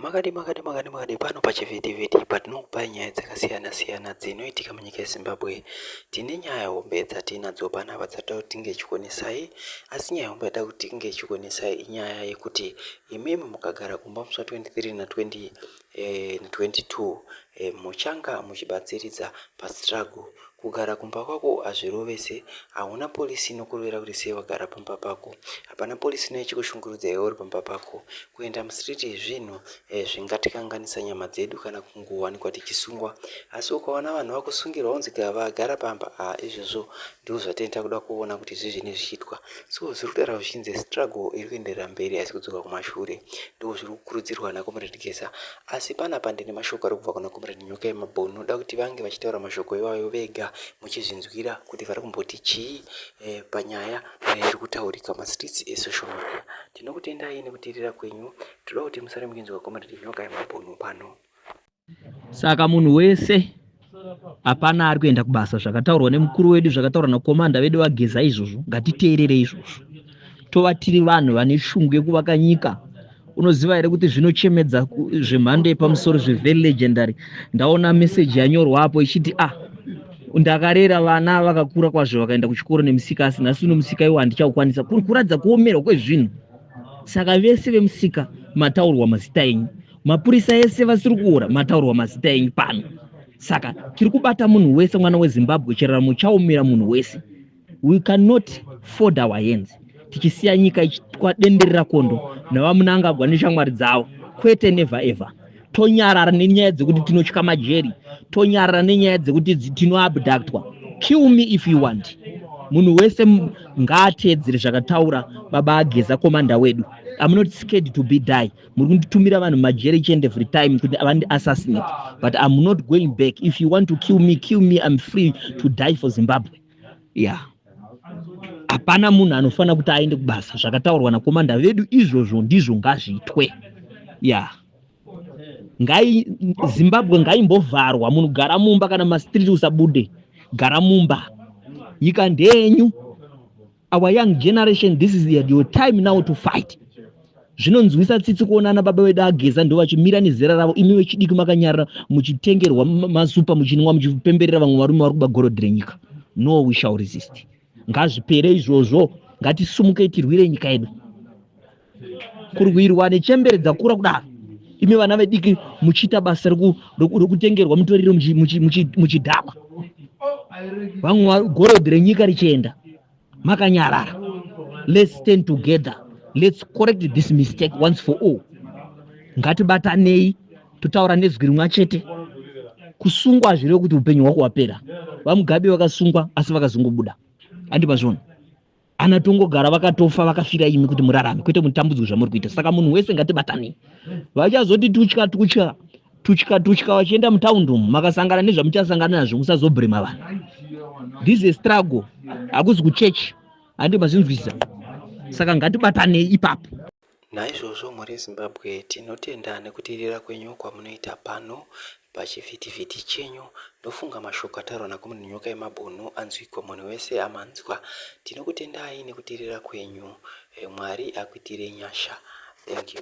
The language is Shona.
Makadii makadii makadii makadii pano pachivhitivhiti patinokupai nyaya dzakasiyana siyana dzinoitika munyika yezimbabwe tine nyaya hombe dzatiinadzo panapa dzatoda kuti tinge ichikonesai asi nyaya hombe yatoda kuti tinge ichikonesai inyaya yekuti imimi mukagara kumba musa 23 na 20 eh, 22 eh, muchanga muchibatsiridza pastruggle Kugara kumba kwako hazvirovese hauna police inokurovera kuti sei wagara pamba pako hapana police inouya ichikushungurudza iwe uri pamba pako kuenda mustreet zvinhu zvingatikanganisa nyama dzedu kana kungowanikwa tichisungwa asi ukaona vanhu vakusungirwa unzi vagara pamba haa izvozvo ndizvo zvatene takuda kuona kuti zvizvini zvichiitwa so zviri kutaura zvichinzi struggle iri kuenderera mberi asi kudzoka kumashure ndizvo zviri kukurudzirwa nakomrade geza Asi panapa ndine mashoko ari kubva kuna Comrade Nyoka Yemabhunu, ndoda kuti vange vachitaura mashoko iwayo vega muchizvinzwira kuti vari kumboti chii eh, panyaya eh, iri kutaurika mastreets esocial media. Tinokutendai nekuteerera kwenyu, tinoda kuti musare muchinzwa Comrade Nyoka Yemabhunu pano. Saka munhu wese hapana ari kuenda kubasa zvakataurwa nemukuru wedu zvakataurwa nakomanda vedu vageza izvozvo ngatiteerere izvozvo tova tiri vanhu vane shungu yekuvaka nyika unoziva here kuti zvinochemedza zvemhando yepamusoro zvevery legendary ndaona meseji yanyorwa apo ichiti a ah, ndakarera vana vakakura kwazvo vakaenda kuchikoro nemusika asi nhasi uno musika iwo handichaukwanisa kuri kuratidza kuomerwa kwezvinhu saka vese vemusika mataurwa mazita enyu mapurisa ese vasiri kuora mataurwa mazita enyu pano saka tiri kubata munhu wese mwana wezimbabwe chiraramo chaomera munhu wese we cannot ford our hands tichisiya nyika ichitwa denderera kondo navamunangagwa neshamwari dzavo kwete never ever tonyarara nenyaya dzekuti tinotya majeri tonyarara nenyaya dzekuti tinoabductwa kill me if you want munhu wese ngaateedzere zvakataura baba ageza komanda wedu am not scared to be die muri kunditumira vanhu majeri each and every time kuti avandi assassinate but am not going back if you want to kill me kill me im free to die for zimbabwe ya yeah. hapana munhu anofanira kuti aende kubasa zvakataurwa nakomanda vedu izvozvo ndizvo ngazviitwe ya yeah. ngai zimbabwe ngaimbovharwa munhu gara mumba kana mastreet usabude gara mumba nyika ndenyu our young generation this is your time now to fight zvinonzwisa tsitsi kuona ana baba vedu ageza ndo vachimira nezera ravo imi vechidiki makanyarira muchitengerwa masupa muchinwa muchipemberera vamwe varume vari kuba gorodhi renyika no we shall resist ngazvipere izvozvo ngatisumukei tirwire nyika yedu kurwirwa nechembere dzakura kudaro imi vana vediki muchiita basa rokutengerwa mutoriro muchidhakwa vamwe gorodhi renyika richienda makanyarara let's stand together let's correct this mistake once for all ngatibatanei totaura nezwi rimwa chete kusungwa hazvireve kuti upenyu hwako hwapera vamugabe vakasungwa asi vakazongobuda andi mazvona ana tongogara vakatofa vakafira imi kuti murarame kwete mutambudzwe zvamuri kuita saka munhu wese ngatibatanei vachazoti tutya tutya tutya tutya vachienda mutaundi umu makasangana nezvamuchasangana nazvo musazobhurima vanhu this a struggle hakuzi kuchechi handi mazvinzwisisa saka ngatibatanei ipapo Naizvozvo mhuri yeZimbabwe tinotenda nekuteerera kwenyu kwamunoita pano pachivhitivhiti chenyu. Ndofunga mashoko ataurwa naKomrade Nyokayemabhunu anzwikwa munhu wese amanzwa. Tinokutendai nekuteerera kwenyu. Mwari akuitirei nyasha. Thank you.